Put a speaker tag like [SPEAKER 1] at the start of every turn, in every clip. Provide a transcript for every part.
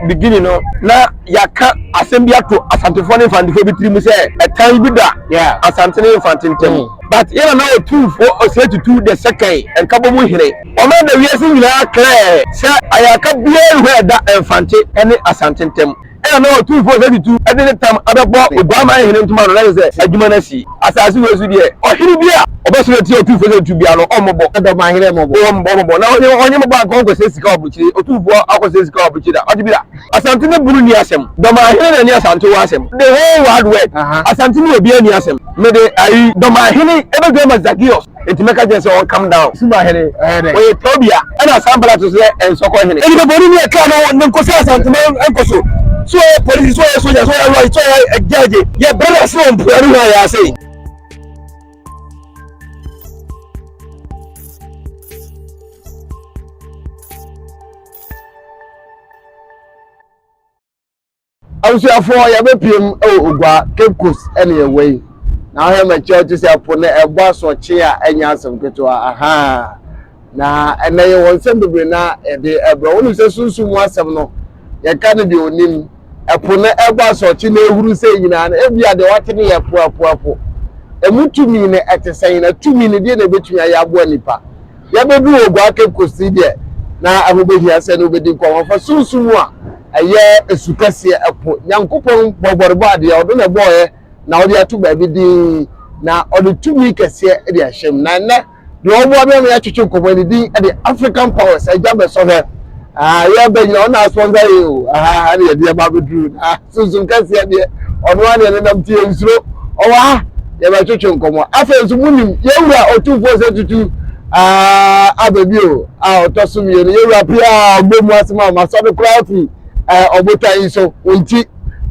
[SPEAKER 1] beginning no na yɛaka asɛm bi ato Asantefoɔ ne Mfantefoɔ bi tiri mu sɛ ɛtan bi da Asante ne Mfante ntam. Mm. But yɛn nana Otumfoɔ Osei Tutu the second, Nkabɔ mu hene, ɔma da wiase nyinaa clear sɛ ayarka biara nni hɔ a ɛda Mfante ne Asante ntam. Ɛna na Otumfoɔ Osei Tutu de ne tam abɛbɔ Oguaman hene ntoma ano na kyerɛ sɛ adwuma no asi. Asase wei so deɛ, ɔhene bi a ɔbɛsɔre atia otumfoɔ sɛ otu biara no, ɔmmɔbɔ. Dɔm ahene mmɔbɔ. Wɔn mmɔ mmɔbɔ. Na ɔhene ɔhene mmɔbɔ anka ɔnkɔsɛ sika wɔ abokyire, otumfoɔ akɔsɛ sika wɔ abokyire da. Ɔte bi da. Asante ne bunu nni asɛm. Dɔm ahene na ɛne Asante wɔ asɛm. The whole world word. Asante ne obiara nni asɛm. Mede ayi, Dɔm ahene, ɛbɛdwam ma Zacchaeus. Enti mɛka kyerɛ sɛ ɔncome down. Suma hene, ɔyɛ dɛn? Ɔyɛ Tobia. Ɛna Sanbalat nso sɛ, Ɛnsɔkɔ hene. Nnipa bɔne ni a ɛkaa no a ɔnam kɔsi Asantema nkɔ so. Sɛ ɔyɛ polisi, sɛ ɔyɛ sogya, sɛ ɔyɛ lɔya, sɛ ɔyɛ gyɛɛgye. Yɛbrɛ no ase wɔ mpoano hɔ a yɛn ase. Abusuafoɔ yɛbɛpiem wɔ Ogua, Cape Coast ɛne yɛwɔ yi. Na wohwɛ m'akyi a wote sɛ ɛpo no ɛbɔ asoɔkye a ɛnyɛ asɛm ketewa ahaa. Na ɛnɛ yɛwɔ nsɛm bebree na yɛde ɛbrɛ. Wonim sɛ sunsum mu asɛm no yɛka no deɛ onim. Ɛpo no ɛbɔ asoɔkye na ɛhuru sɛ nyinaa no ebi a deɛ wate no yɛ ɛpo ɛpo ɛpo. Ɛmu tumi no ɛte sɛn na tumi no deɛ na ɛbɛtumi ayɛ aboa nipa. Yɛabedu Oguaa Cape Coast deɛ, na ɛho bɛhia sɛ ne wo bɛdi nkɔmmɔ fa sunsum mu a ɛyɛ su kɛseɛ, ɛpo, Nyankopɔn bɔbɔrebɔ adeɛ a ɔno na ɛbɔɔɛ na ɔde ato baabi din na ɔde tumi kɛseɛ de ahyɛ mu. Na ɛnnɛ deɛ ɔboa me ama yɛatwetwe nkɔmmɔ yi ne din de African Powers, agya bɛsɔ hwɛ, ah, yɛbɛ nyina ɔna sponsor yɛ o, ah, ɛne yɛde ɛba abɛduru. sunsum kɛseɛ deɛ ɔno ara deɛ nenam nti yɛnsuro ɔwɔ ha yɛbɛtwetwe nkɔmmɔ afei nso monim yɛwura ɔtumfoɔ sɛ tutu aba bi o a ɔtɔ so mmienu yɛwura pii a ɔbɔ mu asɛm a masɔ no koraa firi ɔbotan yi so wo nti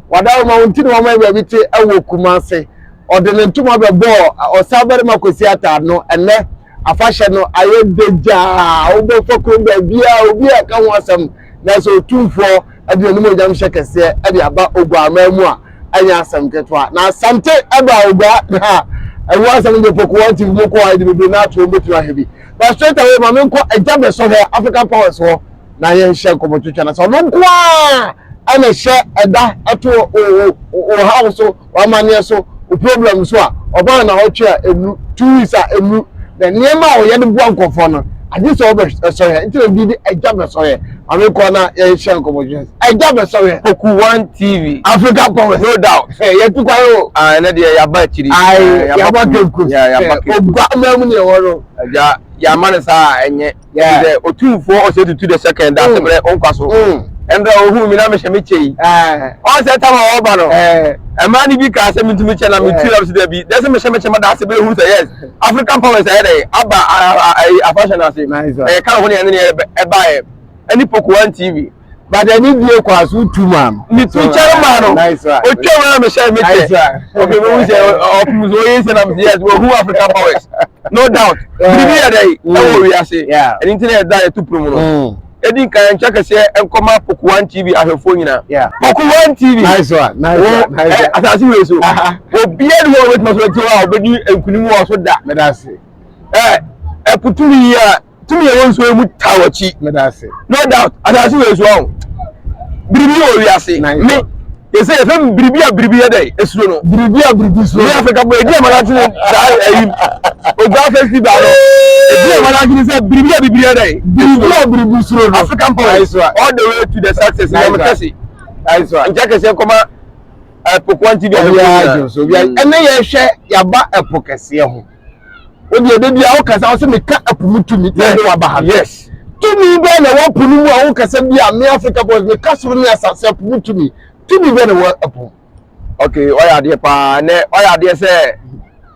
[SPEAKER 1] wada ma wo nti na wama yɛ baabi te wɔ kuma ase ɔde ne ntoma bɛbɔɔ ɔsa barima kɔsi ataa no ɛnɛ afahyɛ no ayɛ dagyaa wobɛfa kuro baabi a obi a ka ho asɛm na sɛ ɔtumfoɔ ɛde n'animuonyamhyɛ kɛseɛ de aba Oguammaa mu a, ɛnyɛ asɛm ketewa. Na Asante ɛba Ogua ha a, ɛho asɛm no deɛ Poku One TV mu kɔ a, ɛde bebree no ato wɔbɛtumi ahwɛ bi. But straight away ma menkɔ agya bɛsɔ hɔ African Powers hɔ na yɛnhyɛ nkɔmmɔtwitwa na sɛ ɔno nko ara ɛna ɛhyɛ ɛda ɛto wɔ ha wo so w'amanneɛ so, wo problem so a, ɔbaa nnawɔtwe a ɛnu, two weeks a ɛnu, na nneɛma a wɔyɛ de boa nkurɔfoɔ no, agye sɛ wɔbɛsɔre a, nti na bi de agya bɛsɔre, maame kɔɔ na yɛhyɛ nkɔmmɔdwene, agya bɛsɔre. Poku One TV. Africa Power. No doubt. Hey, yɛ tukwa yi o. Ah, ɛnɛ deɛ yaba akyiri. Ayi, yaba kenkus. Yaba kenkus. Ogua amaa mu ni ɛwɔ no. Agya, yama ne saa ɛnyɛ. Yeah. Sɛ otumfoɔ ɔsɛ tutu de sɛkɛn da ase mmerɛ nkwa so. Mmerɛ ɔhuu mi na mehyɛ me kyɛ yi. Ɔn sɛ tam a ɔba no. Ɛmaa ne bi kaa sɛ mentumi kyɛ na metu na mesɛ dabi. Dɛ sɛ mehyɛ me kyɛ ma da ase bɛyɛ hunu sɛ yes. African powers ayɛ dɛ aba afahyɛ no ase. Ɛyɛ kan hɔ ne ɛne ne ɛbaeɛ. Ɛne Pokuan TV. but ɛni die kɔ aso wotu maa no. ne tu kyɛn maa no otwa mu na mehyɛ me kyɛ obi mi hu sɛ ɔpum so oye sɛ na mi yes wɔ hu african powers no doubt biribi yɛ dɛ ɛwɔ mm. wiase ɛni ti na yɛ da yɛ tu pum no mm. edi nka yɛn nkyɛn kɛseɛ nkɔma poku one tv ahwɛfoɔ nyinaa poku one tv wɔ ɛ asase wei so obiara ni wɔn bɛ tuma so ɛti hɔ a ɔbɛdi nkunimu wɔ so da ɛ ɛputu yi a. tumi a ɛwɔ nsuo yi mu taa w'akyi no doubt asase wɔ nsuo ho biribi wɔ wiase me yɛsɛ yɛfɛ mu biribi a biribi yɛ dɛ esuro no biribi a biribi suro yɛ afirika bɔ edi amana tene saa ɛyi ogua festival no edi amana tene sɛ biribi a biribi yɛ dɛ biribi a biribi suro no african power all the way to the success na mo kɛse nkyɛn kɛse kɔma ɛpokoa nti bi a ɛyɛ ɛnɛ yɛhwɛ yaba ɛpo kɛseɛ ho. o deɛ de bia wokasa wo sɛ meka apu mu tumi na ɛde waba ha yes tumi bɛɛ na ɛwɔ po no mu a wokasa bi a me africa boys meka soro ne asase apo mu tumi tumi bɛɛ na ɛwɔ apo ok ɔyɛ adeɛ paa nɛ ɔyɛ adeɛ sɛ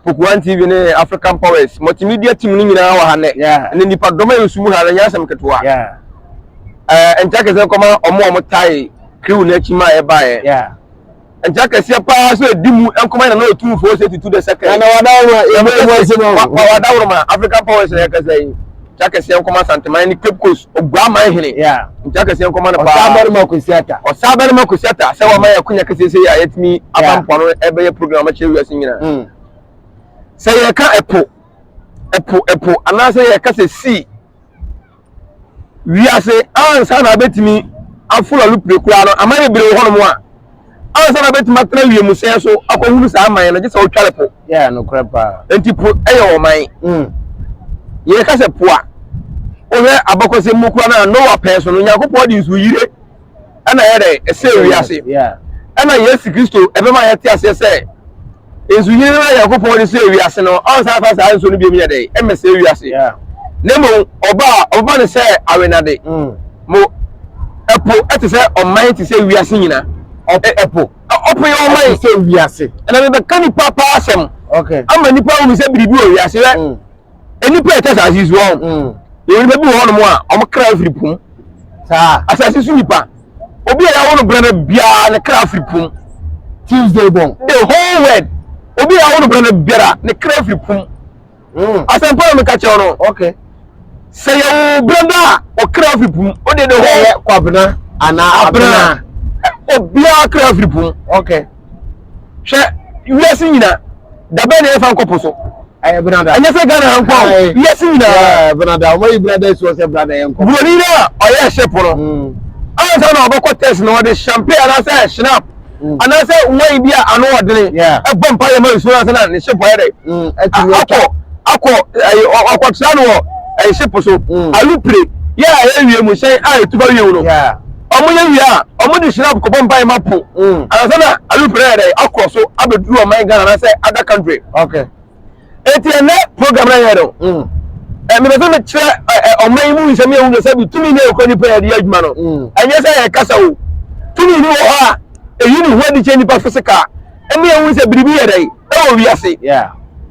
[SPEAKER 1] pokuan tv ne african powers multimedia team no nyinaa wɔ ha nɛ ne nipa dɔm a yɛsu mu ha no nyɛ asɛm ketewa nkyɛ kɛsɛ kɔma ɔmo ɔmo tae crew no akyi ma ɛbaeɛ Agya kɛseɛ paa sɛ ɛdi mu nkɔma yɛ na na ɔtumfoɔ sɛ tutu dɛ sɛ kɛɛ. Ɛna wadaworoma ɛmu ɛmu ase no. Wadaworoma African powers na yɛkasa yi. Agya kɛseɛ nkɔma Santeman ne Cape Coast Oguaman hene. Agya kɛseɛ nkɔma no paa. Ɔsaa barima Kwesi Atta. Ɔsaa barima Kwesi Atta sɛ wama yɛ akonya kɛseɛ sɛ yɛ a yɛtumi aba mpoano ɛbɛyɛ program akyerɛ wiase nyinaa. Hmm. Sɛ yɛka ɛpo ɛpo ɛpo anaasɛ yɛka sɛ sea wiase ansa na abɛtumi aforo
[SPEAKER 2] alupire koraa no aman bebree wɔ hɔnom a ansa na abɛtumi atena wiemhyɛn so akɔhunu saa aman no gye sɛ ɔtware po yeah, no paa.
[SPEAKER 1] nti po yɛ
[SPEAKER 2] ɔman mm. yɛka sɛ po a wohwɛ abakɔsɛm mu koraa no a noa pɛn so no nyankopɔn de nsuo yire ɛna ɛyɛ dɛ ɛsɛ wiase ɛna
[SPEAKER 1] yesu kristo
[SPEAKER 2] ɛbɛma yɛte aseɛ sɛ nsuhini no na nyankopɔn de sɛ wiase no ɔnsan fa saa nsuo no biom yɛ dɛ ɛmmɛsɛ wiase na
[SPEAKER 1] mmom
[SPEAKER 2] ɔba a ɔbɛma no sɛ awenade mm. mo ɛpo ɛte sɛ ɔman te sɛ wiase nyina ɛpo ɔpo yɛ ɔman sɛ wiase ɛna
[SPEAKER 1] mebɛka nipa
[SPEAKER 2] paa asɛm ama nipa
[SPEAKER 1] wumi sɛ
[SPEAKER 2] biribi wɔ wiase rɛ mm. nnipa a ɛte asase so ɔn mm. yɛwɔ nnipa bi wɔ hɔnom a wɔn kra afiri pum saa
[SPEAKER 1] asase so nnipa
[SPEAKER 2] obi a yɛawo no berɛ no biara ne kra afiri pum tuesday
[SPEAKER 1] bɔn the whole world
[SPEAKER 2] obi a yɛawo no berɛ no biara ne kra afiri pum mm. asɛmpa na meka kyerɛ no okay.
[SPEAKER 1] sɛ yɛwo
[SPEAKER 2] berɛ no a ɔkra afiri pum wode the whole kwabena anaa
[SPEAKER 1] abena obiara
[SPEAKER 2] kra afiri pum okay.
[SPEAKER 1] hwɛ
[SPEAKER 2] wiase nyina dabɛ na yɛfa nkɔ po so ɛyɛ benada ɛnyɛ sɛ
[SPEAKER 1] ghana nkɔ
[SPEAKER 2] wiase nyina benada ɔmɔ yi benada
[SPEAKER 1] esu ɔsɛ benada yɛ nkɔ buroni no a ɔyɛ
[SPEAKER 2] ɛhyɛ po no mm. ansa na ɔbɛkɔ test na ɔde champagne anaasɛ shinap mm. anaasɛ wine bi a ano ɔdene ɛbɔ mpa yɛ ma nsuo ansa na ne hyɛ po yɛ dɛ mm, akɔ akɔ ɛyɛ ɔkɔtra no wɔ ɛhyɛ po so alupire yɛ a ɛyɛ wie mu hyɛn a etuba wie mu no. Ɔmo yɛ wie a, ɔmo de hyirab kɔbɔ mpae ma po ansa na aluprɛ ayɛ dɛn akɔ so abɛduru ɔman Ghana anaasɛ other country. Enti
[SPEAKER 1] ɛnnɛ
[SPEAKER 2] program no a yɛyɛ no, mepɛ sɛ mekyerɛ ɔman yi mu nsɛm yɛ hunu sɛ bi tumi ne ɛkura nipa yɛde yɛ adwuma no. Ɛnyɛ sɛ yɛkasa o, tumi bi wɔ hɔ a ɛyi ne ho adi kyerɛ nipa physical. ɛne ɛhu sɛ biribi yɛ dɛn ɛwɔ wiase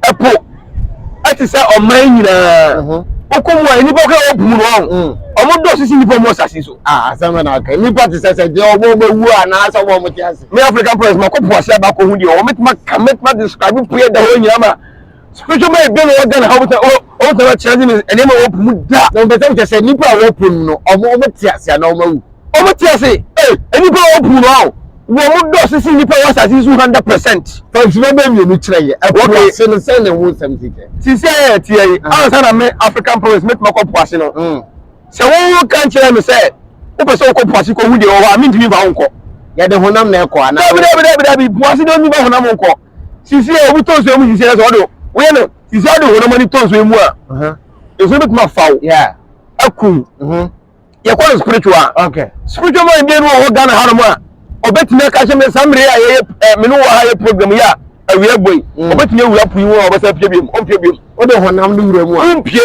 [SPEAKER 2] ɛpo ɛte sɛ ɔman nyinaa mhm. wokɔ mu a nnipa kora wɔpu mu no ɔho mm. ɔmo dɔ sisi nnipa mu asase so ah, asɛm na aka nnipa
[SPEAKER 1] te sɛ sɛ deɛ ɔmo bɛwu a anaasɛ ɔmo ɔmo te ase me african president makɔ po
[SPEAKER 2] ase abakɔ ho deɛ ɔmo mɛtuma ka mɛtuma describe po yɛ da hɔ nyinaa ma Spiritual mind bɛn na ɛwɔ Ghana ha wɔn sɛ wɔn sɛ wɔkyerɛ ne nneɛma wɔ po mu da na wɔn bɛsɛ wɔkyɛ sɛ nnipa
[SPEAKER 1] a wɔwɔ po mu no wɔn wɔn te ase anaa wɔn awu wɔn te ase
[SPEAKER 2] ee nnipa a wɔwɔ po mu no awo wɔn dɔ sisi nnipa a wɔwɔ asase so hundred percent. Fantuma bɛ mmienu
[SPEAKER 1] kyerɛ yɛ ɛpo okay. ase no sɛn na ɛho nsɛm si kyɛ. Sisi a yɛ ɛteɛ yi
[SPEAKER 2] ah. ansa na me African province me tuma kɔ po ase no mm. sɛ wɔn wɔn kan kyerɛ mi sɛ wopɛ sɛ wɔkɔ po ase kɔ hu deɛ wɔwɔ a mi ntumi ba ho nkɔ. Yɛde honam na
[SPEAKER 1] ɛkɔ anaa. Dabi dabi dabi dabi po ase
[SPEAKER 2] de onipa honam nkɔ. sisi a obi tɔ nsuo mu sisi yɛ sɛ ɔde woyɛ no sisi ɔde honam ani tɔ nsuo mu a nsuo bi tuma faw akum yɛkɔ no spiritual spiritual
[SPEAKER 1] man deɛ no wɔ
[SPEAKER 2] hɔ Ghana ha nom a ɔbɛtumi aka kyɛ me saa mmere a yɛyɛ eh, me ne wɔ ha yɛ program yi a awia bɔ yi mm. ɔbɛtumi awura po yi ho a ɔbɛsa pie biom ɔmpie biom wode honam no wura
[SPEAKER 1] mu a wompie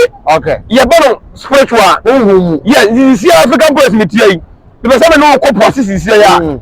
[SPEAKER 2] yɛbɛ no spiritual honhom mu yɛ sisi African press metia yi mepɛ sɛ me ne wokɔ po ase sisi yɛ a mm.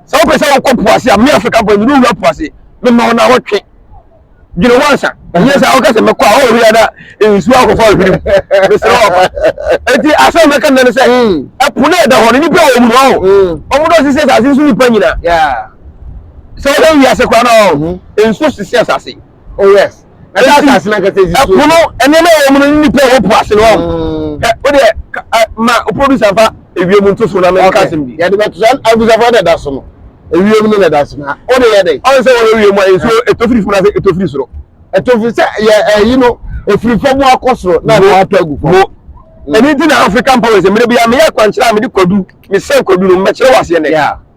[SPEAKER 2] sɛ wopɛ sɛ wokɔ po ase a me afrikafoɔ mede wura po ase mema wo na wotwe dwene wo ansa ɛnyɛ sɛ woka sɛ mɛkɔ a ɔwia na nsuo akɔfa ahwiri mesrɛ wafa ɛnti asɛ mɛka nnɛ no sɛ ɛpo no ɛda hɔ no nnipa wɔ mu no ɔ ɔmo dɔ sisi asase so nnipa nyina sɛ wodɛ wiase koraa no ɔ nsuo sisi asase Oh yes.
[SPEAKER 1] Ɛda asase n'ankasa esi so. Ɛpo no nneɛma ɛwɔ mu
[SPEAKER 2] no nipa ɛwɔ po ase no ɔn. Mm. Ɛ o deɛ ɛ ma o producer fa ewiem nto so na mɛ nka asɛm bi. Yɛde bɛ to so abusafo
[SPEAKER 1] na ɛda so no ewiem no na ɛda so na o de yɛ dɛ. Ɔn sɛ wɔn ewiem a nsuo
[SPEAKER 2] eto firi funu ase eto firi soro. Eto firi sɛ
[SPEAKER 1] yɛ ɛyi no efiri fam akɔ soro na ɛna ato agu fam. Ɛni ti na
[SPEAKER 2] African powers mmerɛ bi a meyɛ akwankyerɛ a mede kwadu mesɛn kwadu no mɛkyerɛ wɔ aseɛ nɛ.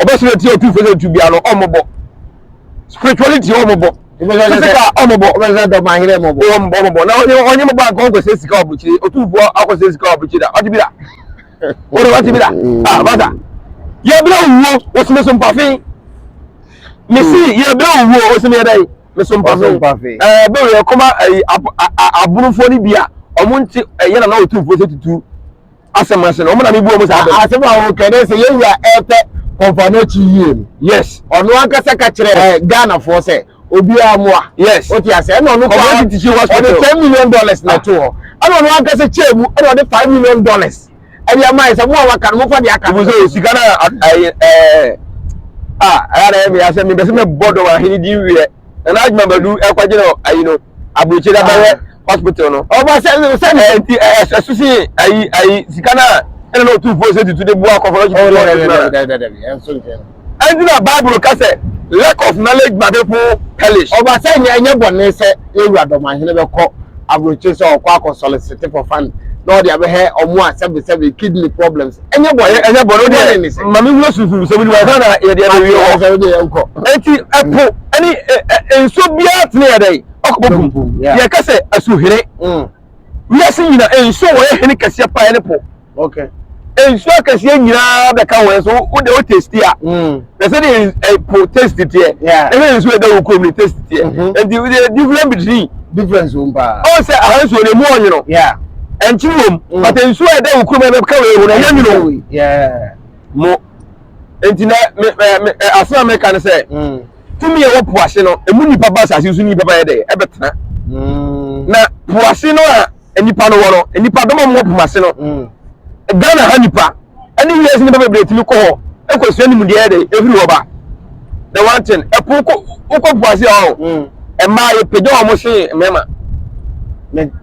[SPEAKER 2] ɔbɛsrɛ ti otu fɛsɛ tu bia no ɔmo bɔ spirituality ɔmo bɔ physical ɔmo bɔ ɔbɛsrɛ dɔ ma yere
[SPEAKER 1] ɔmo bɔ ɔmo bɔ ɔmo bɔ na ɔnye ɔnye
[SPEAKER 2] mo ba nka ɔkɔ sɛ sika ɔbɔkyire otu fo akɔ sɛ sika ɔbɔkyire da ɔte bi da ɔde ɔte bi da ah bata yɛ bere owuo ɔsɛmɛ so mpafe mesi mm. yɛ bere owuo ɔsɛmɛ yɛ dɛ mɛ so mpafe ɛɛ bɛ wɛ kɔma ɛyi abunufoɔ ni bia ɔmo nti ɛyɛ na na otu fo sɛ tutu. asɛm ase no ɔmo na mi bua ɔmo saa bɛn. asɛm a ɔka dɛ sɛ yɛn
[SPEAKER 1] wura ɛɛpɛ kɔnfa n'akyi yie no yes ɔno
[SPEAKER 2] ankasa ka
[SPEAKER 1] kyerɛ ɛɛ ghanafoɔ sɛ obiara moa yes wote ase ɛna
[SPEAKER 2] ɔno koraa
[SPEAKER 1] community teaching ɔde hospital
[SPEAKER 2] ten million dollars na
[SPEAKER 1] ɛto hɔ ɛna ɔno ankasa kyɛɛ mu ɛna ɔde five million dollars ɛde ama yɛ sɛ mo a waka no mofa deɛ aka no nso sika no
[SPEAKER 2] a ɛyɛ ɛɛ a ɛyɛ na ɛyɛ mi asɛm mi bɛsɛ mɛ bɔ dɔm ahene di wiɛ. nana adwuma badu ɛkɔgye no ayi no aburukyiri ah. abɛyɛ hospital no. ɔba sɛ sɛ ɛɛ
[SPEAKER 1] nti ɛɛ
[SPEAKER 2] ɛsusi ayi ayi sika na ɛna na otu fo sɛ tutu de bu akɔfɔ ɔsi tutu ɔsi tutu na ɛnti na bible kasɛ lack of knowledge ma people perish. ɔba sɛ nyɛ nyɛ bɔ
[SPEAKER 1] ne sɛ ewura dɔmahene bɛ kɔ aburukyiri sɛ ɔkɔ akɔ sɔlisiti for fund na ɔde abɛhɛ ɔmo a sɛbisɛbi kidney problems. ɛnyɛ bɔne ɛnyɛ bɔne deɛ ma me wura susu sɛ
[SPEAKER 2] wuli wɔn na yɛ deɛ bɛwie hɔ sɛ wode yɛ nkɔ eti
[SPEAKER 1] ɛpo
[SPEAKER 2] ɛne nsuo biara tene yɛ dɛn ɔkɔbɔ bum yɛ ka sɛ asuhene wiase nyina nsuo wɔ yɛ hene kɛseɛ paa ne po
[SPEAKER 1] nsuo
[SPEAKER 2] akɛseɛ nyinaa bɛka wɔn so wode wo testi a na sɛ de ɛpo taste teɛ ɛna nsuo ɛda wɔ kurom ne taste teɛ nti the difference between difference wɔm paa
[SPEAKER 1] ɔn sɛ aha nsuo no emu
[SPEAKER 2] ɔnwono ɛnkyiri wɔm but nsuo a ɛda wɔ kurom ɛbɛ ka wɔ ehu na ɛnyɛ nwono mo nti na me me asem a meka ne sɛ tumi a ɛwɔ po ase no emu nipa ba asase so nipa ba yɛ dɛ ɛbɛ tena na po ase no a. nnipa no wɔ no nnipa dɔm a wɔwɔ po ase no mm. ghana ha nnipa ɛne wiase nnipa bebree tumi kɔ hɔ ɛkɔsua ne mu deɛ ɛde ɛfiri hɔ ba the one thing ɛpo kɔ wokɔ po ase ɔho mm. mmaa yɛpagya wɔn se mmarima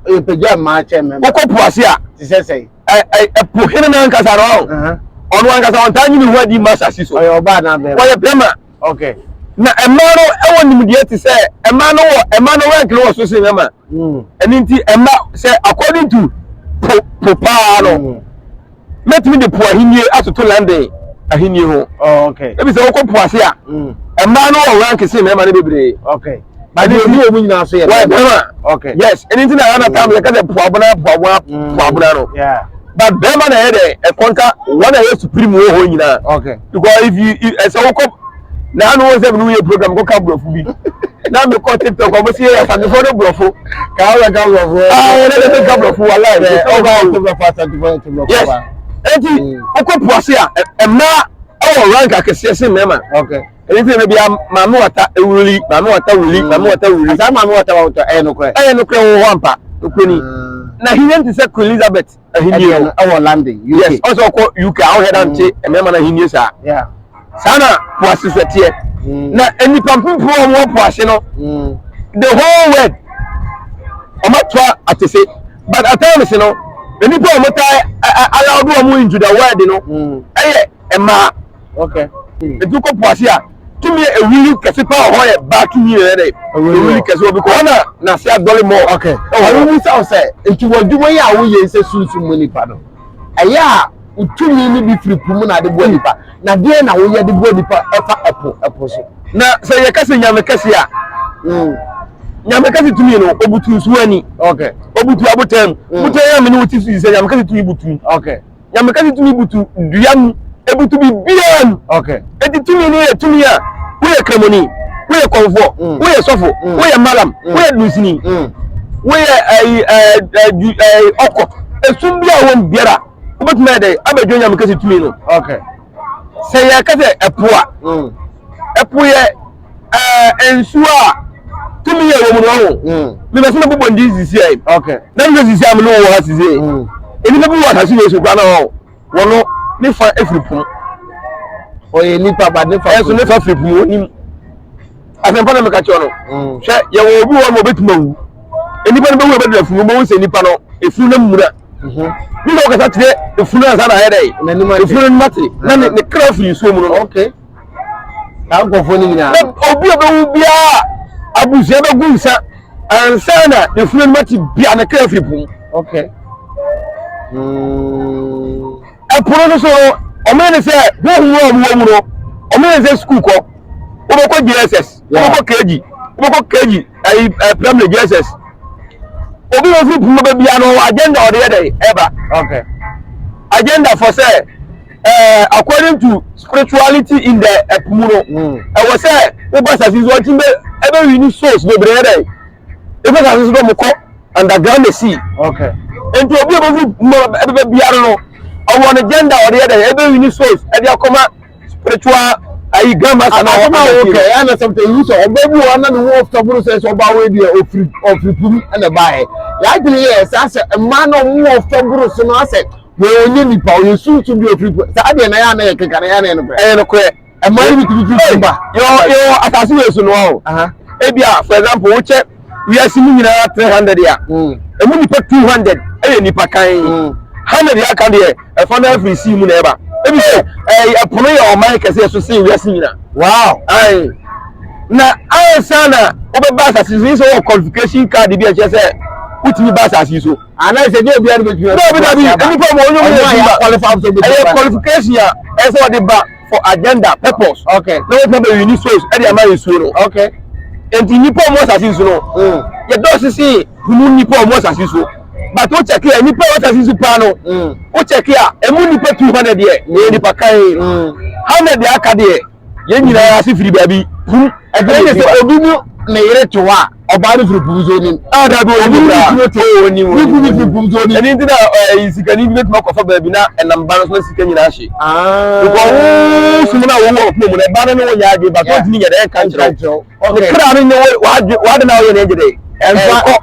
[SPEAKER 2] yɛpagya mmaa kyɛ mmarima
[SPEAKER 1] wokɔ po ase a te
[SPEAKER 2] sɛ sɛ
[SPEAKER 1] ɛpo hene
[SPEAKER 2] no ankasa no ɔho ɔno ankasa ɔntaa nyini ho adi ma asase so ɔyɛ ɔbaa na bɛrima ɔyɛ bɛrima Okay.
[SPEAKER 1] Na mmaa
[SPEAKER 2] no wɔ nimdeɛ te sɛ mmaa no wɔ mmaa no rank no wɔ so sen mmarima. Mm. Ɛno nti mma sɛ according to po po paa no mm. mɛtumi de po ahennie atoto London ahennie ho. Oh, okay. Ebi sɛ wɔkɔ
[SPEAKER 1] po ase a
[SPEAKER 2] mm. mmaa no wɔ rank sen mmarima no bebree. Okay. bade
[SPEAKER 1] bi wɔ mu nyinaa so yɛ bɛrima okay yes ɛni ti na yɛ
[SPEAKER 2] anata mi yɛ kɛsɛ puabuna puabuna mm. puabuna no but bɛrima
[SPEAKER 1] na yɛ
[SPEAKER 2] dɛ ɛkɔnta wɔn na yɛ supreme wɔ hɔ nyinaa okay because if you ɛsɛ wokɔ na anu wɔn sɛ mi ni yɛ program kɔ ka burɔfo bi na mi kɔ tiktok ɔmo si yɛ asantefo ne burɔfo ka awɔ ka
[SPEAKER 1] burɔfo aa yɛ dɛ ka burɔfo
[SPEAKER 2] wala yɛ ɔba yɛ burɔfo
[SPEAKER 1] asantefo yɛ burɔfo yes ɛti
[SPEAKER 2] wokɔ puase a ɛmaa ɛwɔ rank akɛseɛ si mɛma okay. Ɛyɛ sɛ ɛna
[SPEAKER 1] bia
[SPEAKER 2] maame wata wuli, maame wata wuli, maame mm. wata wuli. Asaa maame wata wata ɛyɛ nokorɛ. Ɛyɛ nokorɛ
[SPEAKER 1] wɔ hɔ ampa,
[SPEAKER 2] nkwani. Mm. Na hinie nti sɛ Queen Elizabeth ahinie no. Ɛwɔ London, UK.
[SPEAKER 1] Yes, ɔsɛ ɔkɔ UK,
[SPEAKER 2] awo hɛ dante mm. ɛmɛɛma na hinie saa. Saa
[SPEAKER 1] na
[SPEAKER 2] poase sɛ teɛ. Na nnipa mpempem a wɔwɔ poase no, the whole world, wɔn atoa atese. But at times no, nnipa a wɔtaa allow do wɔn into the world no, ɛyɛ mmaa. Okay.
[SPEAKER 1] Hmm. Etu kɔ po
[SPEAKER 2] ase a tumi yɛ ewuli kɛse paa ɔhɔ yɛ baa tumi yɛ dɛ ewuli kɛse obi kɔ hɔ na n'ase adɔle mɔ. Okay. Ɔwɔ mu sa
[SPEAKER 1] sɛ nti wɔ adwuma yi a woyɛ sɛ sunsun mu nipa no ɛyɛ a wotumi ne bi firi po mu na ade boa nipa na deɛ na woyɛ de boa nipa ɛfa ɛpo ɛpo so. Na sɛ yɛ kɛse
[SPEAKER 2] nyame kɛse a. Hmm. Nyame kɛse tumi no obutu nsuo ani. Okay. Obutu
[SPEAKER 1] abotan mu.
[SPEAKER 2] Hmm. Botan yɛ amene wo ti so yi sɛ nyame kɛse tumi butu. Okay. Nyame kasa
[SPEAKER 1] tumi
[SPEAKER 2] butu dua mu, ebutu biribiara mu. Okay. Eti tumi
[SPEAKER 1] no yɛ
[SPEAKER 2] tumi a woyɛ kramoni, woyɛ kɔnfoɔ, mm. woyɛ sɔfo, mm. woyɛ malam, mm. woyɛ dunsini, mm. woyɛ ɛyi ɛɛ ɛɛ ɛɛ ɔkɔ. Esum bi a wɔn biara wobɛtumi ayɛ dɛ abɛdwo Nyame kasa tumi no. Okay.
[SPEAKER 1] Sɛ yɛ
[SPEAKER 2] kasa ɛpo a, mm. ɛpo yɛ. ɛɛ nsuo a tumi yɛ wɔn no ho mebɛ sɛ mɛbobɔ ndi sisi ayi na mehwɛ sisi a
[SPEAKER 1] mene
[SPEAKER 2] wɔ ha sisi ayi nnipa bi wɔ asase wei so kora na hɔ wɔno ne fa afiri pono
[SPEAKER 1] ɔyɛ nipa ba ne fa ɛso ne fa firi pono nim
[SPEAKER 2] asɛmpa na meka kyerɛ no mm. hwɛ yɛwɔ obi wɔ ma ɔbɛtumi awu nnipa no bɛwu ɛbɛdura funu bɛwu sɛ nnipa no efunu no mmura mhm. ne na ɔkasa kyerɛ efunu ansa na ayɛ dɛ efunu no mate na ne kra firi nsuo mu no
[SPEAKER 1] saa nkurɔfoɔ no nyinaa. na obi a ɔbɛwu
[SPEAKER 2] biara abusua bɛgu nsa ansa na ne funu no mate bia ne kra firi po mu
[SPEAKER 1] okay
[SPEAKER 2] ɛpono no so no ɔmo ne sɛ honhom a ɔmo wɔ mu no ɔmo ne sɛ sukuu kɔ wobɛkɔ jss wobɛkɔ kg wobɛkɔ kg ayi ɛ primary jss obi wɔ firi po mu bɛbia no wɔ agenda ɔde yɛ dɛ ɛba okay
[SPEAKER 1] agenda
[SPEAKER 2] fɔ sɛ ɛɛ according to spirituality in the ɛpo mu no hmm. ɛwɔ sɛ woba asase so ɔtí bɛ ɛbɛ wi ni souls bebree dɛ ebi asase so dɛ ɔmo kɔ underground na si nti
[SPEAKER 1] obi a bɛ
[SPEAKER 2] fi mu ɛbɛ biara no ɔwɔ ne gender ɔde yɛ dɛ ɛbɛ wi ni souls ɛde akɔma spiritual ayi grandma sana ɔwɔ ɛna ti bi ɛna sɛ ɔtɛ
[SPEAKER 1] yi sɛ ɔbɛ bi wɔ ɔna ne ho ɔfita buru sɛ sɛ ɔba awo ebi yɛ ofiri ofiri pum ɛna ba yɛ yɛ adwene yɛ sɛ asɛ mmaa na ɔmo wɔ ɔfita buru so no asɛ. Wei ɔnyɛ nipa, ɔyɛ sunsun bi ofiri po. Saa deɛ na yɛ ana yɛ keka na yɛ ana yɛ nokorɛ. Ɛyɛ nokorɛ. Ɛmaa yɛ bitumi firi sum ba. Yɛwɔ yɛwɔ asase
[SPEAKER 2] wei so no wa o. Ebi a for example wokyɛ wiase mu nyinaa three hundred a, emu nipa two hundred ɛyɛ nipa kan. Hundred yɛ aka deɛ ɛfa no afiri sea mu na ɛba. Ebi sɛ ɛɛ ɛpo no yɛ ɔman kɛseɛ so sen wiase nyinaa. Wow. Ayi. Na ansa na wobɛba asase so yi sɛ wɔ qualification card bi a ɛkyerɛ sɛ wotumi ba asase yi so. anaasɛ ɛnyɛ obiara
[SPEAKER 1] na obetumi aba. Dabi dabi, nnipa mu
[SPEAKER 2] onyom yɛ adwuma. Ɛyɛ qualification a ɛsɛ sɛ ɔde ba for agenda purpose. Okay. Na wɔtumi abɛyi
[SPEAKER 1] ni souls
[SPEAKER 2] ɛde ama nsuo no. Okay.
[SPEAKER 1] Nti nnipa
[SPEAKER 2] ɔmo asase so no. Mm. Yɛdɔ sisi hunu nnipa ɔmo asase so. But o check a nnipa ɔmo asase so paa no. Mm. O check a ɛmu nnipa two hundred yɛ. Ɛyɛ nnipa kan. Mm. Hundred yɛ aka deɛ. yɛn nyinaa ase firi baabi kum ɛdɛn ne sɛ
[SPEAKER 1] obi mu ne yere to hɔ a ɔbaa no firi pum so onim a da bi obi mu
[SPEAKER 2] firi to hɔ onim ne kunu firi pum so onim
[SPEAKER 1] ɛne nti na ɛyi
[SPEAKER 2] sikani bi bɛtumi akɔfa baabi na ɛnam ba no so na sika nyinaa hye nkɔ wo sum no a wɔwɔ ɔpoma mu no ɛba no ne wonyɛ adwe ba so ntumi nyɛ dɛ ɛnka nkyerɛw ne kra no ne w'ade na ɔyɛ no ɛgye dɛ ɛnkɔ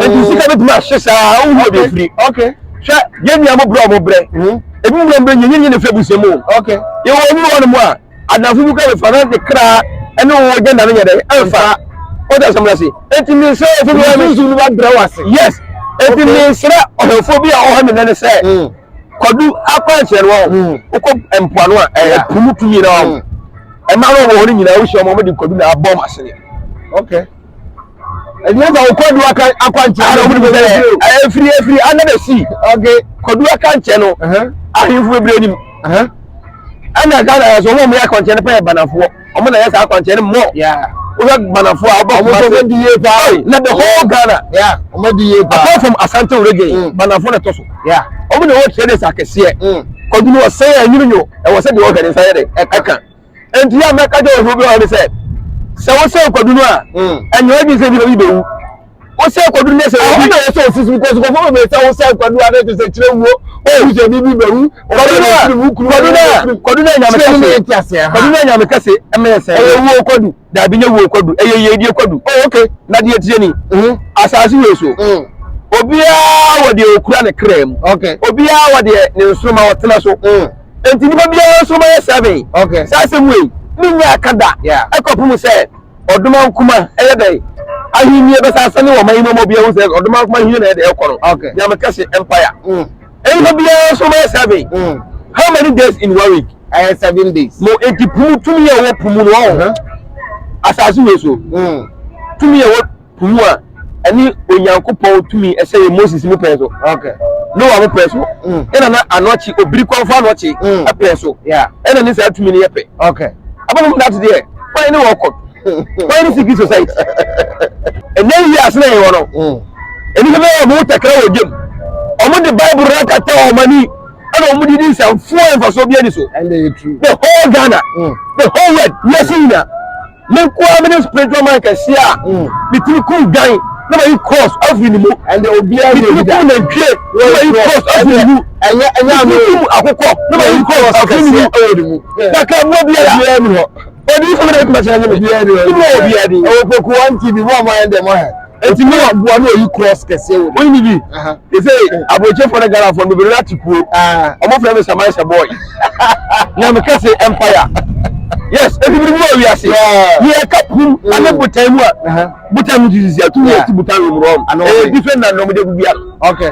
[SPEAKER 2] nti sika bɛtumi ahye saa wohu ɔde firi hwɛ
[SPEAKER 1] yɛn nua
[SPEAKER 2] mo brɛ ɔmo brɛ ebi mu brɛ nyɛ nyɛ ne fɛ busua mu yɛwɔ ɔmo
[SPEAKER 1] wɔ no mu
[SPEAKER 2] a adanfo bi kɔ ne fa na ne kra ɛne wɔn gya nane yɛ dɛ ɛnfa o da sɛm ase eti mi nsɛ efi mi wa mi nsu mi wa brɛ wa se yes eti mi nsɛ ɔhɛfo bi a ɔhɛ mi nane sɛ. kɔdu akwanhyɛ no hɔ mm. wokɔ mpoano a ɛyɛ po mu tumi na hɔ ɛma no wɔ hɔ no nyinaa wohyia ɔma ɔmde kɔdu na abɔ m asene
[SPEAKER 1] ɛnyɛ sɛ wokɔdu akwankyɛ no wode bɛ sɛ
[SPEAKER 2] ɛfiri ɛfiri under the sea kɔdu
[SPEAKER 1] akankyɛ
[SPEAKER 2] no ahemfo bebree nim ɛna ghana yɛ so wɔn a wɔyɛ akwankyɛ no pɛ yɛ banafoɔ Ɔmo na ɛyɛ saa akwankyerɛ no mmɔ. Wohwɛ
[SPEAKER 1] Gbanafo a
[SPEAKER 2] ɔbɔ Kumase. Ɔmo di yie paa. Na the whole Ghana. Ɔmo di yie
[SPEAKER 1] paa. Apart from
[SPEAKER 2] Asante Orege, mm. Gbanafo na ɛtɔ so. Ɔmo na ɛwɔ
[SPEAKER 1] traders
[SPEAKER 2] akɛseɛ. Mm. Kɔdunu ɔsɛn a ɛnyini nyo ɛwɔ sɛ deɛ ɔhwɛ ne nsa yɛ de ɛka. Nti yɛ a mɛka gye ɔhwɛ obi ɔhwɛ ne sɛ sɛ wosɛn kɔdunu a ɛnyɛ ɔdwi sɛ bi na bi bɛwu. wosɛ kwadu ne sɛ obi na yɛsɛ osisi because kɔfɔ bɛ bɛ sɛ wosɛ kwadu a ne te sɛ kyerɛ wuo owu sɛ bibi bɛ wu kwadu na kwadu na kwadu na nyame kase ne yɛn ti ase ha kwadu na nyame kase ɛmɛ yɛ sɛ ɛyɛ wuo kwadu daabi nye wuo kwadu ɛyɛ yɛ die kwadu oh okay na deɛ tie ni asaase wɔ so obiara wɔ deɛ okura ne kra mu okay obiara wɔ
[SPEAKER 1] deɛ
[SPEAKER 2] ne nsoroma ɔtena so nti nipa biara nsoroma yɛ seven saa asɛm wei
[SPEAKER 1] ne
[SPEAKER 2] nyɛ akada ɛkɔpem sɛ Ɔdomaa Nkrumah ɛyɛ dɛn ahennie bɛsa asane wɔ ɔman yi mu ama obiara hu sɛ Ɔdomaa Nkrumah ahennie na ɛyɛ dɛn ɛkɔ no. Okay. Deɛ meka se
[SPEAKER 1] empire.
[SPEAKER 2] Mm. Ɛnipa biara nso bɛyɛ seven. Mm. How many days in one week? Ɛyɛ seven days.
[SPEAKER 1] No enti pumu tumi
[SPEAKER 2] a ɛwɔ pumu no ɔho. Asase wei so. Mm. Tumi a ɛwɔ. wu a, ɛne Onyankopɔn tumi ɛsɛ yɛ Moses mu pɛn so, Noa
[SPEAKER 1] mu pɛn so,
[SPEAKER 2] mm. ɛna na anɔkye obiri kwanfo anɔkye mm. ɛpɛn so, ɛna ne saa
[SPEAKER 1] tumi no yɛ
[SPEAKER 2] pɛ. Abɛnum dat
[SPEAKER 1] deɛ,
[SPEAKER 2] wɔn ne wɔn kɔ, wɔn ne civil society. Ɛnɛ yi ase na yɛ wɔ no, mm. ɛni sɛ bɛyɛ ɔmo tɛkɛrɛ wɔ gyem, ɔmo de Bible rɛ kata wɔn ani, ɛna ɔmo de di nsɛmfo ɛnfaso bi ani so. The
[SPEAKER 1] whole Ghana,
[SPEAKER 2] the whole world, yɛ si nyina. Me nko ara me ne spiritual man kɛseɛ a metumi kum dwan na mayi cross afiri ne mu metumi
[SPEAKER 1] kum nantwie
[SPEAKER 2] na mayi cross afiri ne mu metumi
[SPEAKER 1] kum akokɔ
[SPEAKER 2] na mayi cross afiri ne mu na ka mmoa biara ɔde yi fam na ɛtuma kyerɛ nye me ne mu wɔ biara din ɛwɔ pokuwa nti bi mu
[SPEAKER 1] a moayɛ dɛ moahɛ Eti mi wa gua na oyi cross kɛseɛ wɔ mu. Wọ́n yìí bi.
[SPEAKER 2] Yẹsẹ aburokyefo ne Ghanafoɔ bebree na ati kuo. Ọmọ fẹ́ mi Samaisa boy. Nyame kɛse empire. Yes, ebi bi mu awi ase. Yẹ ẹka pum ane botan mu a. Botan mu ti sisi a tumi esi botan wɔ mu rɔm. Ɛyɛ different na na ɔmo de gugu ano. Okay.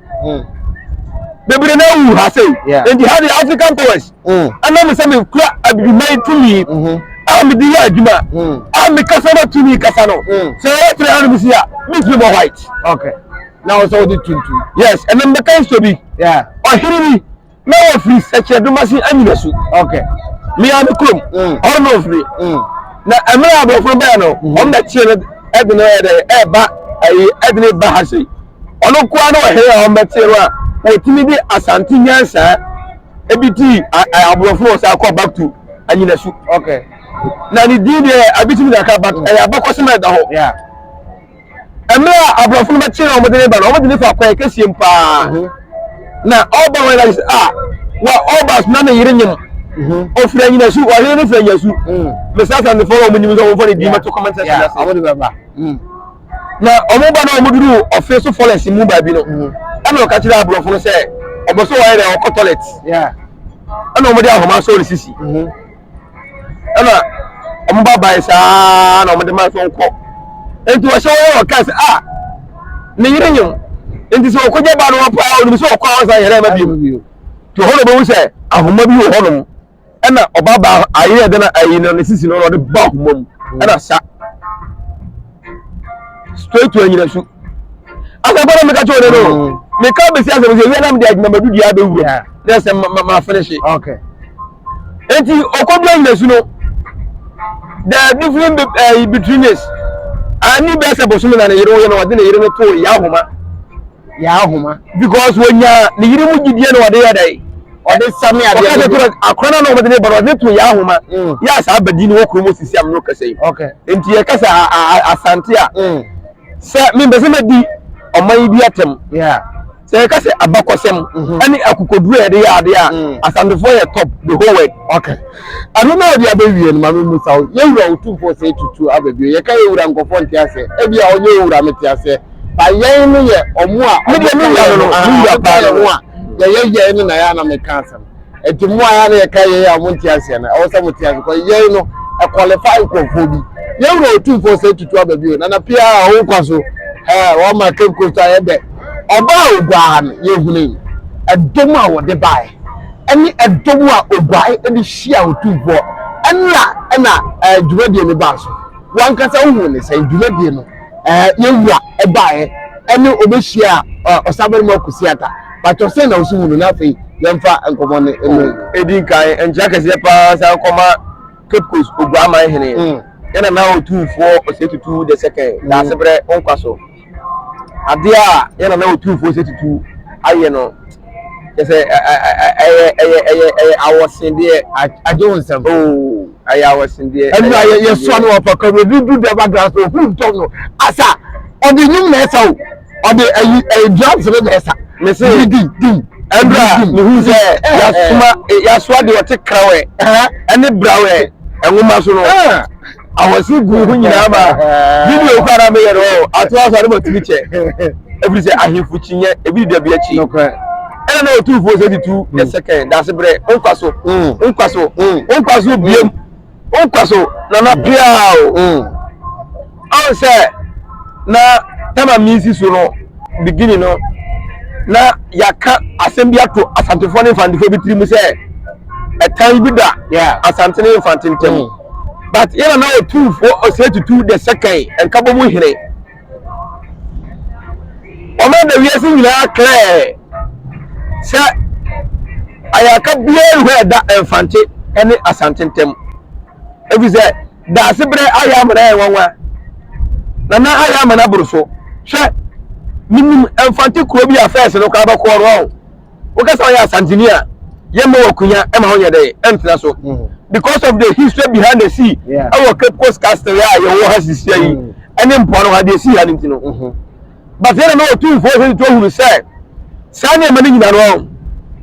[SPEAKER 2] mm. bebree na awu ha sei nti ha de african powers ɛnam mm. sɛ mekura abibiman tumi mm-hmm. a mede yɛ adwuma mm. a mekasa no tumi kasa no sɛ ɛyɛ tere ha no mesi a mentumi bɔ white na
[SPEAKER 1] ɔsɛ wode tuntum yes ɛnam bɛka
[SPEAKER 2] nsuo bi ɔhene bi na wɔfiri sɛkyerɛdomase anyina su okay
[SPEAKER 1] mea me kurom
[SPEAKER 2] mm. ɔno na ɔfiri mm. na mmerɛ a aborɔfo bɛɛ no mm-hmm. wɔn na tie no ɛde no ɛdɛ ɛba ɛyi ɛde no ba ha sei ɔno nkoa na ɔhɛrɛ a wɔn bɛtie no a wɔtumi de asante nyansaa ebi ti aborɔfo wɔ sɛ akɔ back to anyina su okay
[SPEAKER 1] na ne din
[SPEAKER 2] deɛ abitumi na aka but ɛyɛ abakɔsɛm ɛda hɔ. mmerɛ a aborɔfo no bɛkye na wɔde ne ba no wɔde ne fa kɔɛ kɛsie mu paa mhm. na ɔba wɔn ɛdade sɛ a wa ɔba sena ne yere nyem ɔfiri mhm. anyina su ɔhene no firi anyina su mhm. mesa asantefoɔ na wɔn nyim sɛ wɔmfa ne din mɛto comment section no ase
[SPEAKER 1] na
[SPEAKER 2] wɔn ba na wɔn duru ɔfe so forest mu baabi no ɛna ɔka kyerɛ aborɔfo no sɛ ɔbɔ so wɔyɛ dɛ ɔkɔ toilet
[SPEAKER 1] ɛna wɔn de
[SPEAKER 2] ahoma asɔ ne sisi ɛna wɔn ba ban saa na wɔn de ma nso nkɔ nti wɔhyɛ wɔn yɛ wɔka sɛ a ah, ne yere nyim nti sɛ ɔkɔgya ba no hɔ paa ɔnim sɛ ɔkɔ a ɔsan yɛrɛ ma bio nti ɔhɔ na ɔbɛhu sɛ ahoma bi wɔ hɔnom ɛna ɔba ba ayerɛ de na ayi no ne sisi no na ɔde ba ahoma mu ɛna sa straight to anyinasu asɛmpa na meka kyerɛ ɔno no meka bɛsi asɛm sɛ wia na mede adwumamadu deɛ abɛwura na ɛsɛ mafene hye enti ɔkɔdu anyinasu no the different uh, between us ani bɛɛ sɛ bosome na ne yere wo yɛ no ɔde ne yere no too yɛ ahoma yɛn ahoma. because wɔnya ne yere mu gyidie na wɔde yɛ dɛ ɔde same adeɛ ɔka sɛ tura akora no na wɔde ne ba no ɔde to yɛn ahoma mm. yɛ a saa badi no wɔ kurom sisi am no kasa yi nti yɛka sɛ asante a mm. sɛ mempɛ sɛ mɛdi ɔman yi bi atɛm sɛ
[SPEAKER 1] yɛka sɛ
[SPEAKER 2] abakɔsɛm mm-hmm. ɛne akokoduru a yɛde yɛ adeɛ a mm. asantefoɔ yɛ top the whole world okay
[SPEAKER 1] ɛno na ɔde abɛwie no ma me mu sa wo yɛwura wotumfoɔ sɛ tutu abɛbio yɛka yɛwura nkɔfoɔ nte aseɛ ebia ɔnyɛ wura mete aseɛ Ba yɛn no yɛ ɔmo a ɔmo ka yɛn ho no aa ɔmo ka yɛn ho a yɛyɛ yɛn no na yɛ a na meka asɛm ɛnti mo a yɛ a na yɛka yɛn a ɔmo nte aseɛ no ɛwɔ sɛ mo te aseɛ kɔ yɛn no ɛkɔlefai nkorɔfoɔ bi yɛn wura otumfoɔ sɛ tutu aba bio nana pia a ɔwo nkwa so ɛɛ wɔn ma cape coast a yɛ dɛ ɔba a ogua ha no yɛ hunu yi ɛdom a wɔde baɛ ɛne ɛdom a oguae ɛde hyia otumfoɔ ɛna ɛna ɛɛ dwumadie no baa so wankasa wohu ne sɛn dwumadie no. eh, yɛn wura baeɛ ɛne ɔbɛhyia eh, ɔsabarima kusiata patɔ sɛ na ɔso hu no na afei yɛmfa nkɔmmɔ no mmɛn ɛdi nkan
[SPEAKER 2] nkyerɛ kɛseɛ paa san kɔma cape coast oguaman hene mm. ɛna na ɔtumfoɔ ɔsɛ tutu the second mm. daaseberɛ nkwa so adeɛ a yɛna na ɔtumfoɔ ɔsɛ tutu ayɛ no kyɛ sɛ ɛ- ɛ- ɛ- ɛ- ɛyɛ ɛyɛ ɛyɛ ɛyɛ awɔsedeɛ a- agye wo nsam
[SPEAKER 1] oo ɛyɛ
[SPEAKER 2] awɔsedeɛ ɛno ɛyɛ a yɛ- yɛsoa
[SPEAKER 1] awɔsedeɛ no wɔ papa mu ebi du dɛm adan so ohu dɔ no asa ɔde nnwom na ɛsa o ɔde ayi ɛyi drums no na ɛsa me se di di di
[SPEAKER 2] ɛberɛ a di mehu sɛ ɛɛ yɛasoma yɛasoa deɛ ɔte krawɛ ɛɛ ɛne brawɛ nwoma so no ɛɛ ahoɔse gu ho nyinaa ma video kɔ ara meyɛ no ato aso ade matumi kyɛ ɛfiri sɛ ahemfo kyinyɛ ebi da bi akyi ɛna na ɔtumfoɔ sɛ tutu mm. the second daase berɛ wonkwa so mm. wonkwa so mm. wonkwa so biam wonkwa so nana pia o ɔn sɛ na tama misi so no beginning no na yɛaka asɛm bi ato asantefoɔ ne mfantefoɔ bi tiri mu sɛ ɛtan bi da yeah. asante ne mfante ntam mm. but yɛna na ɔtumfoɔ ɔsɛ tutu the second nkabɔ mu hene ɔma da wiase nyinaa klɛɛ sɛ ayaka biara hɔ ɛda mfante ne asante ntam ɛfiri sɛ daase berɛ ayɛ amana yɛ nwanwa na na ayɛ amana boro so hwɛ menim mfante kuro bi a fɛs no koraa bɛkɔɔ no ɔho woka sɛ ɔyɛ asantini a yɛma wɔ akunya ɛma ho nyɛ dɛ ɛntena so mm. because of the history behind the sea ɛwɔ cape coast castle a yɛwɔ ha sisia yi mm. ɛne mpoano ha deɛ ɛsii ha no nti no mm-hmm. but yɛne na ɔtumfoɔ sɛ to ahunu sɛ saa nneɛma no nyina no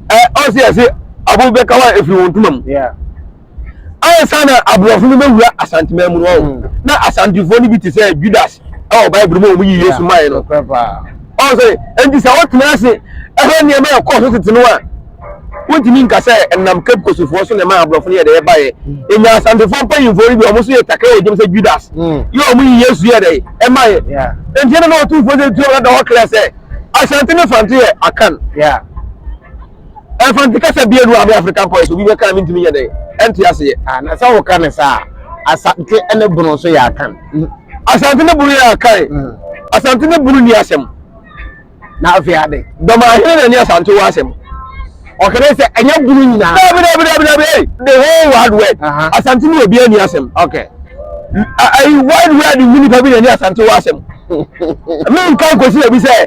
[SPEAKER 2] ɔn sɛ yɛse abo bɛka hɔ a ɛfiri wɔn ntoma mu ansa na aborɔfo no bɛwura asanteman mu no ɔho mm. na asantefoɔ no bi te sɛ judas ɛwɔ bible mu a wɔyi yesu mae no ɔho sɛ enti sɛ wotena ase ɛhɛ nneɛma a ɛkɔɔ so tete no a wontumi nka sɛ ɛnam cape kosofoɔ so na ɛma aborɔfo no yɛ dɛ ɛbaeɛ ɛnya asantefoɔ mpanyimfoɔ no bi ɔmo so yɛ takra wɔ gyam sɛ judas mm. yɛ ɔmo yi yesu yɛ dɛ ɛmaeɛ enti ɛna na ɔtumfoɔ sɛ tuo ɔda hɔ klɛ sɛ asante ne fante yɛ akan Ɛmfanti kasa biara nni
[SPEAKER 1] hɔ a me
[SPEAKER 2] African Poets obi bɛka a
[SPEAKER 1] mentumi
[SPEAKER 2] nyɛ dɛn ɛnte aseɛ. Ah, na sɛ woka no saa
[SPEAKER 1] a,
[SPEAKER 2] Asante
[SPEAKER 1] ne Bono nso yɛ Akan. Asante ne
[SPEAKER 2] Bono yɛ Akan. Asante ne Bono nni asɛm. Na
[SPEAKER 1] afei ade. Dɔmahene na ɛne
[SPEAKER 2] Asante wɔ asɛm. Ɔka dɛ
[SPEAKER 1] sɛ ɛnyɛ Bono nyinaa. Dabi dabi dabi dabi ei
[SPEAKER 2] the whole wide world. Aha. Asante ne obiara nni asɛm. Okay.
[SPEAKER 1] A- Ayi
[SPEAKER 2] wide world mu nipa bi na ɛne Asante wɔ asɛm. Menka nkosi baabi sɛ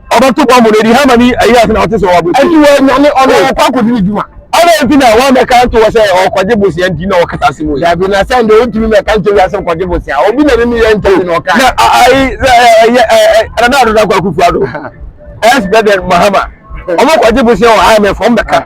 [SPEAKER 1] ɔbɛto
[SPEAKER 2] bɔmbu no edi Haman yi ayi ase na ɔte sɛ ɔwɔ abotire. Enti wɔanyane ɔno
[SPEAKER 1] ɔkɔ akɔdi ne dwuma. Adɛn nti na woammɛka
[SPEAKER 2] anto hɔ sɛ ɔrekɔgye bosea nti na ɔkasa asɛm wei? Dabi, na sɛn de wontumi
[SPEAKER 1] mmɛka nkyerɛ wiase nkɔgye bosea? Obi na ne ne yɛ ntam na ɔkae. Na a ayi sɛ
[SPEAKER 2] ɛyɛ ɛɛ Nana Addo Dankwa Akufo-Addo, ex-President Mahama, wɔkɔgye bosea wɔ IMF, wɔmmɛka.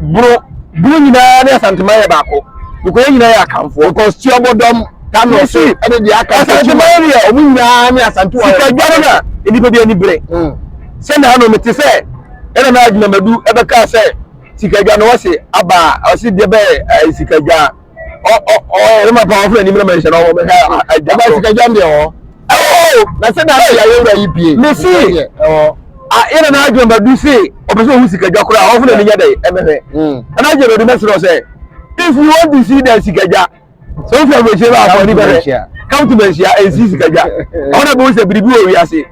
[SPEAKER 2] Bro bro nyinaa ne asanteman yɛ baako because yɛn nyinaa yɛ akanfoɔ. Because tiɔbɔdɔm
[SPEAKER 1] kano so ɛne deɛ aka nsa kyima. Asanteman deɛ ɔmo
[SPEAKER 2] nyinaa ne asantewa
[SPEAKER 1] yɛ. Sika dware na nnipa
[SPEAKER 2] bi ani bere. Mm. Sɛ na ano mete sɛ ɛna na adwinamadu ɛbɛka sɛ sika dwa no wɔse abaa ɔse deɛ bɛyɛ eh, sika dwa. ɔyɛ ma paa ɔfrɛ anim na manhyɛ na ɔwɔ ɛdwama sikadwam
[SPEAKER 1] deɛ ɔ na sɛ na yɛ ayɛwura yi pie mesi
[SPEAKER 2] yɛna na adwene badu se ɔpɛ sɛ ɔhu sikadwa koraa ɔfrɛ ne nya dɛ ɛmɛhwɛ ɛna adwene badu mɛserɛ sɛ if you want to see that sikadwa sɛ wofrɛ aburokyire bɛ akɔ ne bɛhwɛ come to manhyia and see sikadwa ɔna bɛhu sɛ biribi wɔ wiase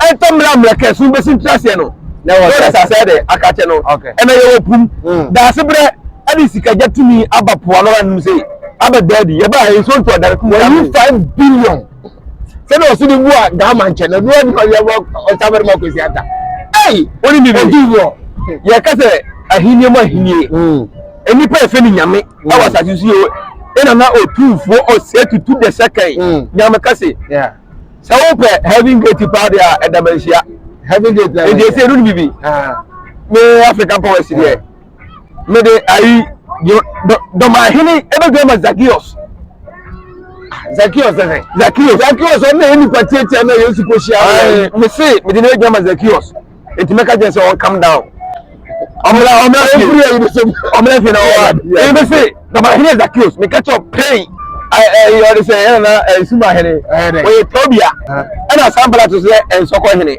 [SPEAKER 2] ɛntɔ mmerɛ a mmerɛ kɛse no bɛsi ntena aseɛ no na ɛwɔ sɛ sɛ de aka kyɛ no ɛna yɛwɔ pum hmm. daase berɛ ɛde sikagya tumi aba poa no anom sɛ aba daadi yɛba ha nsuo ntɔ dare kuma wɔyi five billion
[SPEAKER 1] sɛdeɛ ɔso de bu a gaama nkyɛn na ɛduru ɛduru ɔyɛ wɔ ɔtabɛrɛ ma kwesi ata ɛyi wɔn ni bibi ɔdi wɔ
[SPEAKER 2] yɛ
[SPEAKER 1] kɛsɛ
[SPEAKER 2] ahinie mu ahinie hmm. nnipa efe ni nyame hmm. ɛwɔ asase so yɛ ɛna na otumfuo ɔsɛ tutu dɛsɛ kan nyame kɛse. sɛ
[SPEAKER 1] wopɛ
[SPEAKER 2] heaven gate paa deɛ a ɛda manhyia heaven
[SPEAKER 1] gate nti ɛsɛ ɛdu no bibi
[SPEAKER 2] me african powers deɛ mede ayi dɔmahene ɛbɛdwa ma zakios zakios ɛsɛ zakios zakios ɔno na ɛyɛ nipa tiatia na yesu kɔhyia mese mede no adwa ma zakios nti mɛka kyerɛ sɛ ɔn calm down ɔmla ɔmla fie ɛfiri ayi de sɛm ɔmla fie na ɔwa ɛyɛ bɛ se dama hene zakios meka kyerɛ pɛn ɛyɛ ɔde sɛ ɛyɛ na ɛsuma hene ɔyɛ tobia ɛna san bala to sɛ ɛnsɔkɔ hene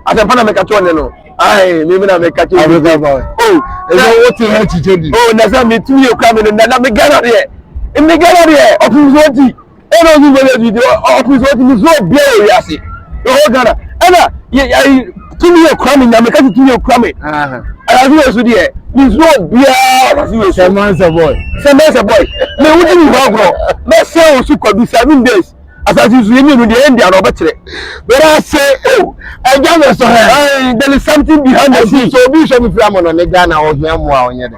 [SPEAKER 2] asɛmpa na meka kyerɛ ɔne no ayi mi mi na meka kyerɛ ɔne
[SPEAKER 1] no o ɛna wote ha kyikyɛ bi o na sɛ metumi yɛ
[SPEAKER 2] kura mi no na na me gana deɛ me gana deɛ ɔpemfoɔ ti ɛna ɔnyi mmɔlɛ bi de ɔpem sɛ ɔtumi sɛ obiara wɔ wiase ɛwɔ ghana ɛna yɛyi tumi yɛ kura mi nyame kasi tumi yɛ kura mi ɛyàtò yɛ so deɛ mi sɛ obiara kasi yɛ so sɛmɛ sɛ bɔy
[SPEAKER 1] sɛmɛ sɛ bɔy mɛ
[SPEAKER 2] ewu ti mi hɔ agorɔ mɛ sɛ o so kɔdu seven days asase nsu yɛ mienu deɛ ɛndi ano ɔbɛkyerɛ bɛrɛ ase o ɛgya mi sɔ hɛ there is something behind the scene so obi sɔ mi fira mu
[SPEAKER 1] no
[SPEAKER 2] ne
[SPEAKER 1] ghana ɔhia mu a ɔnyɛ dɛ.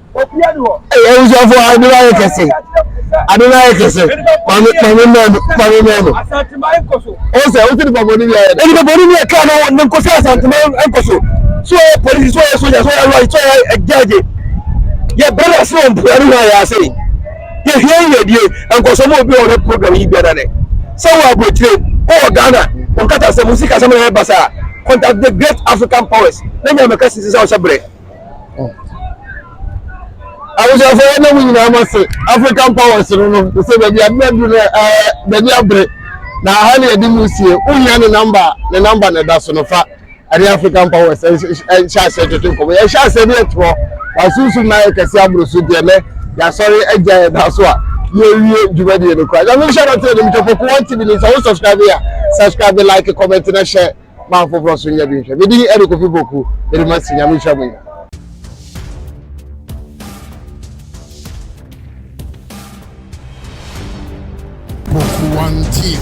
[SPEAKER 2] Ɛyɛ abusuafo a ade no ayɛ
[SPEAKER 1] kɛse. Ade no ayɛ kɛse. Maame maame mmaa no maame mmaa no.
[SPEAKER 2] Ɔn sɛ wosi nipa bɔne
[SPEAKER 1] bi ayɛ. Nipa bɔne bi ɛka na
[SPEAKER 2] wɔn nkɔ sɛ asantuma nkɔ so. So ɔyɛ polisi so ɔyɛ soja so ɔyɛ lɔri so ɔyɛ ɛgyaagye. Yɛ bɛrɛ na ase wɔn pura ne ho ayɛ ase. Yɛ hwɛ yi yɛ die nkɔsɔ mu obi wɔn program yi biara ne. Sɛ wɔ aburokyire wɔ Ghana wɔn kata sɛ mo si kasa mo na yɛ basa. Contact the great African powers. N'enye ameka sisi sɛ ɔhyɛ brɛ.
[SPEAKER 1] Abusuafoɔ yɛda mo nyinaa mo ase African Powers no no te sɛ baabi ade adu no ɛɛ baabi abere na aha ne yɛde mu sie wohia ne namba ne namba na ɛda so no fa ɛne African Powers ɛnhyɛ aseɛ twetwe nkɔmɔ yɛhyɛ aseɛ ne yɛtorɔ wasunsum na ayɛ kɛse aboro so deɛ nɛ yɛasɔre agya yɛda so a yɛwie dwumadie no kora nyame nhyɛ no te ne metwa pɔko wɔn tv ne nsa wo subscribe a subscribe like comment na hyɛ ma afoforɔ nso nyɛ bi nhwɛ. Medin ɛde Kofi Poku, mede masi, Nyame nhyira mo nyinaa.
[SPEAKER 3] Poku One TV.